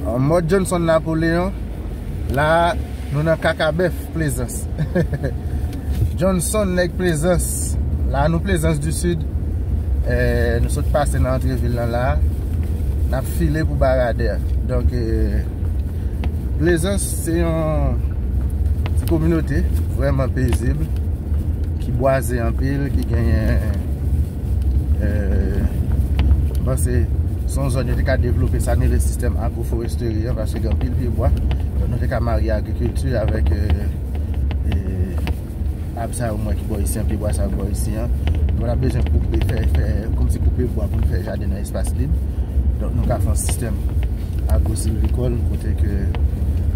An mòd Johnson Napoléon, la a nou nan Kakabèf Plezans. Johnson nèg Plezans, la a nou Plezans du Sud. Nou sot pase nan antre vil lan la a. N ap file pou Baradè. Donk, Plezans se yon ti kominote vrèman pezib, ki bwaze anpil, ki genyen. Mwen panse se yon zòn yo te ka devlope sa nou rele sistèm agwoforesteri an paske gen anpil pyebwa. Donk nou te ka marye agrikilti avèk ab sa yo mwen ki bò isi an, pyebwa sa yo ki bò isi an. Nou ta bezwen koupe, fè, fè, koupe bwa pou nou fè jaden nan espas lib. Donk nou ka fè yon sistèm. Agro silvikòl kote ke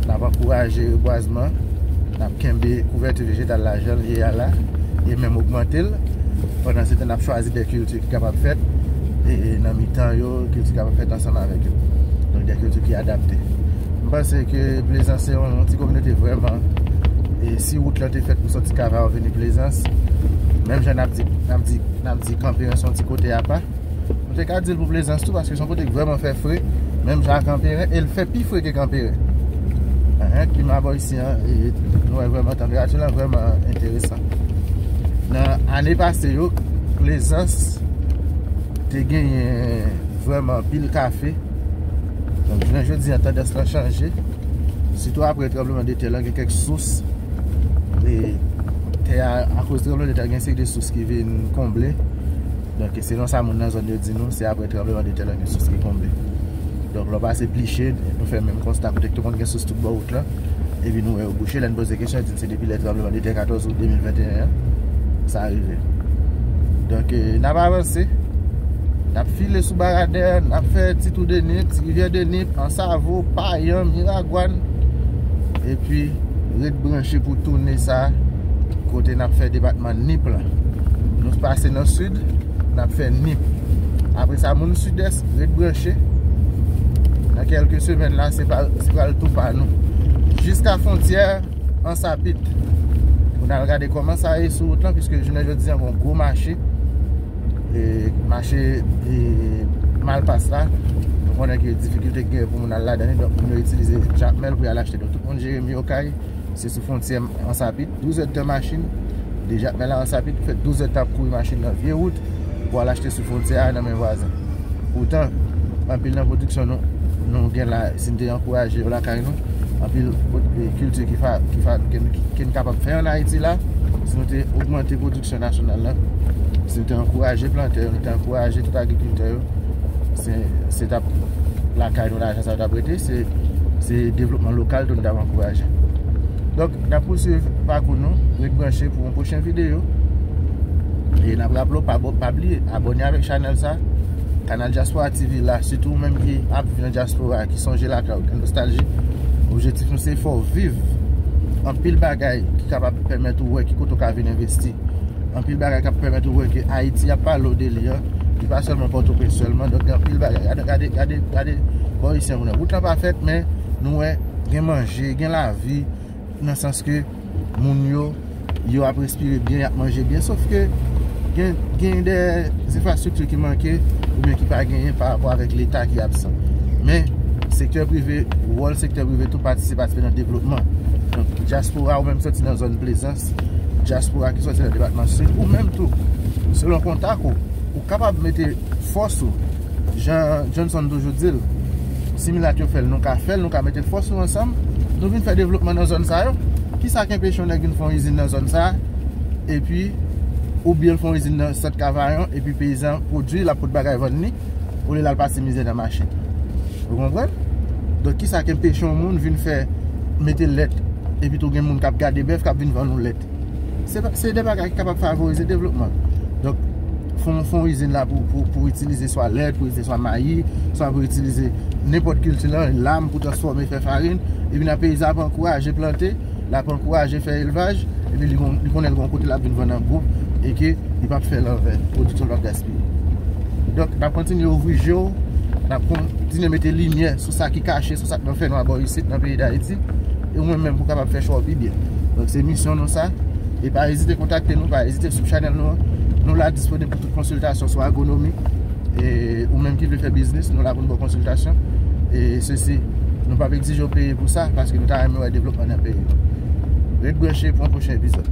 n ap ankouraje rebwazman, n ap kenbe kouvèti vejetal la jan l ye a la e menm ogmante l. Pandansetan n ap chwazi de kilti ki kapab fèt nan mitan yo, kilti ki kapab fèt ansanm avèk yo. Donk de kilti ki adapte. M panse ke Plezans se yon ti kominote vrèman e si wout lan te fèt pou sòti Kavawa vini Plezans menm jan n ap di kanpe an se yon ti kote apa. Nou te ka di l pou Plezans tou paske son kote k vreman fè fre menm jan ak Kanperen e l fè pi fre ke Kanperen. Ehe klima bò isi an nou wè vreman tanperati lan vreman enteresan. Nan ane pase yo Plezans te genyen vreman pil kafe. Donk jounen jodi an tandans lan chanje. Sitou apre tranbleman de tè lan gen kèk sous e tè a akoz tranbleman de tè a gen se de sous ki vin konble. Donk selon sa moun nan zòn yo di nou, se aprè tranbleman de tè la gen sous ki konble. Donk lè w pase Pliche, nou fè menm konsta kote ki te konn gen sous tout bò wout la, epi nou wè yo bouche. Lè n poze kesyon, yo di n se depi lè tranbleman de tè 14 out 2021 an sa rive. Donk n ap avanse, n ap file sou Baradè, n ap fè ti tou de Nip, ti Rivyè de Nip, Ansavo, Payan, Miragwàn, epi ret branche pou toune sa. Kote nap fè depatman Nip la Nou pase nan Sid Nap fè Nip Apre sa moun Sidès ret branche Nan kelke semen la se pral tou pa nou Jiska fontyè Ansapit Pou nal gade koman sa ye sou wout lan Piske jounen jodi an gon gwo mache E mache E malpas la Nou konnen ki difikilte gen pou moun al la dani Donk moun yo itilize jakmel pou yal achte Donk tout moun Jeremi okay Se sou fontyè Ansapit, 12 èd tan machin, deja men la Ansapit pou fè 12 èd tan ap kouri machin nan vye wout pou al achte sou fontyè a nan men vwazen. Poutan, anpil nan pwodiksyon nou, nou gen la, si n te ankouraje yo lakay nou, anpil kilti ki fa, ki fa, ke n kapab fè an Ayiti la, si nou te ogmante pwodiksyon nasyonal la, si nou te ankouraje plantè yo, nou te ankouraje tout agrikiltè yo. se tap lakay nou lajan sa yo tap rete se devlopman lokal tou nou tap ankouraje donk nap pousuiv pakou nou ret branche pou yon pwochen videyo e nap raple w pa bliye abone avèk chanèl sa kanal Djaspora TV la sitou ou menm ki ap viv nan Djaspora ki sonje lakay ou gen nostalji objetif nou se fè w viv anpil bagay ki kapab pèmèt ou wè ki kote ou ka vin envesti Anpil bagay kap pèmèt ou wè ke Ayiti ap pale w de li an, li pa sèlman Pòtoprens sèlman, donk gen anpil bagay. Gade, gade, gade, gade bò Isye an kounye a. Wout lan pa fèt men nou wè gen manje, gen lavi nan sans ke moun yo, yo ap respire byen, yap manje byen. Sof ke gen, gen dè enfrastrikti ki manke oubyen ki pa genyen pa rapò avèk leta ki absan. Men, sektè prive, wòl sektè prive tou patisipatif nan devlopman. Donk, dyaspora ou menm soti nan zòn plezans. Dyaspora ki sòti nan depatman Sid, ou menm tou, selon kontak ou, ou kapab mete fòs ou, jan Johnson toujou di l, si milat yo fè l, nou ka fè l, nou ka mete fòs nou ansanm, nou vin fè devlopman nan zòn sa yo. Ki sa k enpeche yon nèg vin fè yon izin nan zòn sa a, epi, oubyen l fè yon izin nan Sant Kavayon, epi peyizan pwodui, l ap pot bagay vann li? olye lal pase mizè nan machin ou konprann donk kisa ki enpeche yon moun vin fè mete lèt epi tou gen moun kap gade bèf kap vin vann ou lèt se de bagay ki kapab favorize devlopman donk fon izin la pou itilize swa lèt pou itilize swa mayi swa pou itilize nenpòt kilti lan lam pou transfòme fè farin epi nan peyi sa pou ankouraje plante l ap ankouraje fè elvaj epi li konnen l gen yon kote l ap vin vann an gwo e ke li pap fè l an vè pwodiksyon l pap gaspiye donk n ap kontinye ouvri je w n ap kontinye mete limyè sou sa ki kache sou sa k nan fè nwa bò isit nan peyi dayiti e ou menm menm pou w kapab fè chwa w pi byen donk se misyon nou sa e pa ezite kontakte nou pa ezite sou chanèl nou an nou la disponib pou tout konsiltasyon sou agonomi e ou menm ki vle fè biznis nou la pou nou baw konsiltasyon e sesi nou pap egzije ou peye pou sa paske nou ta renmen wè devlopman nan peyi nou ret branche pou yon pwochen epizòd.